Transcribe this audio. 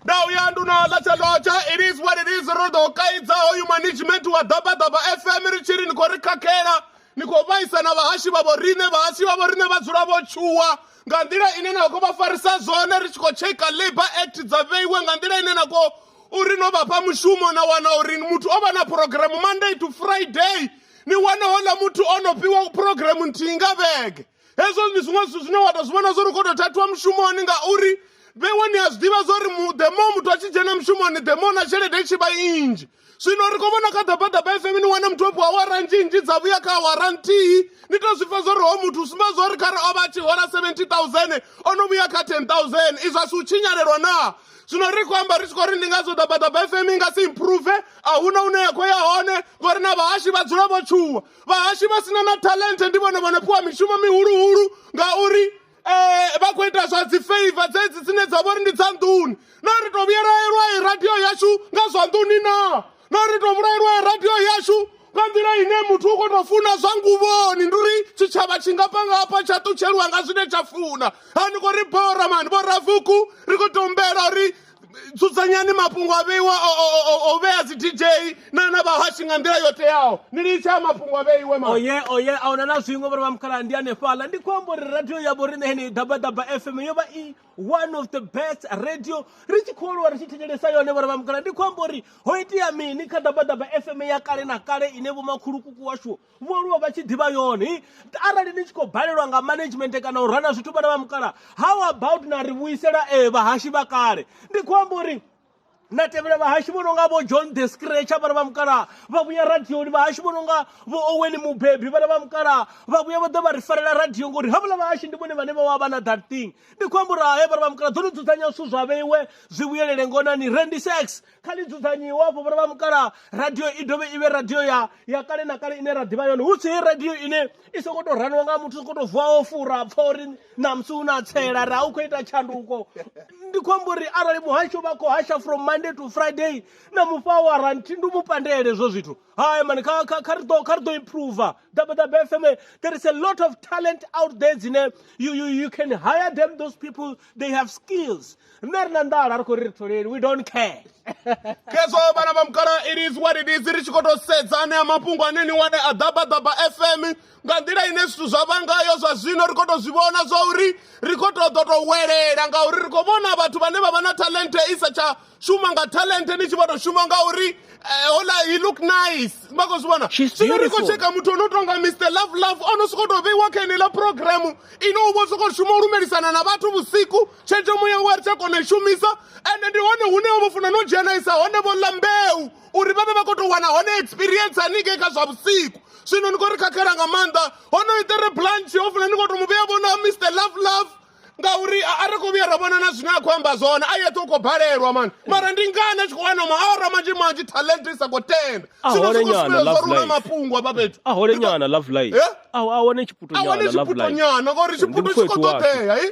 ndau ya nduno latsha lotsha it is what it is ro ḓo kaidza hoyu management wa ḓabaḓaba fm ri tshi ri ni khou ri khakhela ni khou vhaisa na vhahashi vha vhoriṋe vhahasi vha vhoriṋe vha dzula vho tshuwa nga nḓila ine na khou vha farisa zwone ri tshi khou tsheka labour act dza vheiwe nga nḓila ine na khou uri no vha fha mushumo na wana uri muthu o vha na programu monday to friday ni wane hola muthu o no fhiwa programu nthihi nga vhege hezwo ndi zwiṅwe zwithu zwine wa to zwi vhona zwori u kho to thathiwa mushumoni ngauri vhewe ni a zwi ḓivha zwori demo muthu a tshi dzhena mushumoni demo na tshelede i tshi vha inzhi zwino ri khou vhona kha ḓabaḓaba fm ni wane muthu o fhiwa awara nzhinzhi dza vhuya kha awara nthihi ni to zwi pfa zwori ho muthu u sumba zwori khare o vha a tshi hola 70000 o no vhuya kha 10000 izwi a si u tshinyalelwa naa zwino ri khou amba ri tshi khou ri ndi ngazwo ḓabaḓaba fm i nga si improve a huna hune ya khou ya hone ngori na vhahashi vha dzula vho tshuwa vhahashi vha sina na talente ndi vhone vhone fhiwa mishumo mihuluhulu ngauri eh, vha khou ita zwa dzi favor dzedzi dzine dza vhori ndi dza nḓuni na ri tou vhuyelaelwa i radio yashu nga zwa nḓuni na na ri tou vhulaelwa i radio yashu nga nḓila ine muthu u khou tou funa zwa nguvhoni ndi uri tshitshavha tshi nga pangapa tsha ṱutsheliwa nga zwine tsha funa ha ni khou ri bora mani vhoravuku ri khou tombela uri dzudzanyani mafhungo a vheiwa o- o- o- o- o vhea dzi dj na na vhahashi nga nḓila yo teaho ni litshe a mafhungo a vheiwe ma oye oye a huna na zwiṅwe vhori vhamukhala ndi hanefhaḽa ndi khou amba uri radio ya vhoriṋe heneyi dabadaba fm yo vha i one of the best radio ri tshi khou aluwa ri tshi thetshelesa yone vhori vhamukhala ndi khou amba uri ho itea mini kha dabadaba fm ya kale na kale ine vhomakhulukuku washu vho aluwa vha tshi ḓivha yone arali ni tshi khou balelwa nga management kana u rana zwithu vhana vha mukala how about na ri vhuisela e vhahashi vha kale ndi khou amba uri na tevhela vhahashi vho no nga vho john the scratcher vhana vha mukala vha vhuya radioni vhahashi vho no nga vho oweni mubebi vhana vha mukala vha vhuya vha ḓa vha ri farela radio ngori havhuḽa vhahashi ndi vhone vhane vha wa vha na that thing ndi khou amba uri hae vhana vha mukala dzo ni dzudzanya zwithu zwa vheiwe zwi vhuyelele ngonani rendise x kha ḽi dzudzanyiwe afho vhona vha mukalaha radio i dovhe i vhe radio ya ya kale na kale ine ra ḓivha yone hu si radio ine i songo tou raniwa nga muthu sokou tou vuwa o fura pfha uri ṋamusi u na tsela ra u khou ita tshanduko ndi khou amba uri arali muhasho vha khou hasha from monday to friday na mufha wa ranthi ndi mu pandele hezwo zwithu hai mani kha kha kha ri ḓo kha ri ḓo improve dabadaba fm there is a lot of talent out there dzine you, you, you can hire them those people they have skills nṋe ri na nḓala ri khou ri ri tholeli we don't care khezwo vhana vha mukala it is what it is ri tshi khou tou sedza ane a mafhungo ane ni wane a ḓabaḓaba fm nga nḓila ine zwithu zwa vha ngayo zwa zwino ri khou tou zwi vhona zwa uri ri khou tou ḓo tou welela ngauri ri khou vhona vhathu vhane vha vha na talente i sa tsha shuma nga talente ni tshi vha tou shuma ngauri eh, hola he look nice vha khou zwi vhona zwino ri khou tsheka muthu o no tonga mr love love o no sokou tou vheiwa kha eneiḽa programu ine u vho sokou shuma u lumelisana na vhathu vhusiku tshenzhemo yawe ri tsha kona shumisa ende ndi hone hune vho funa no dzhenaisa hone vho ḽa mbeu uri vha vhe vha khou tou wana hone experience haningei kha zwa vhusiku zwino ni khou ri khakhela nga maanḓa hono itere blanch ho funa ni khou tou mu vhea vhona mr love love ngauri a ri khou vhuya ra vhona na zwine a khou amba zwone a yeṱhe u khou balelwa mani mara ndi ngani a tshi khou wana maawara manzhi manzhi talent i sa khou tenda zwino zwi khou sumbedza zwa runa mafhungo afha fhethu a hole nyana love life a wane tshiputonyana ngauri tshiphuto tshi khou ṱoḓea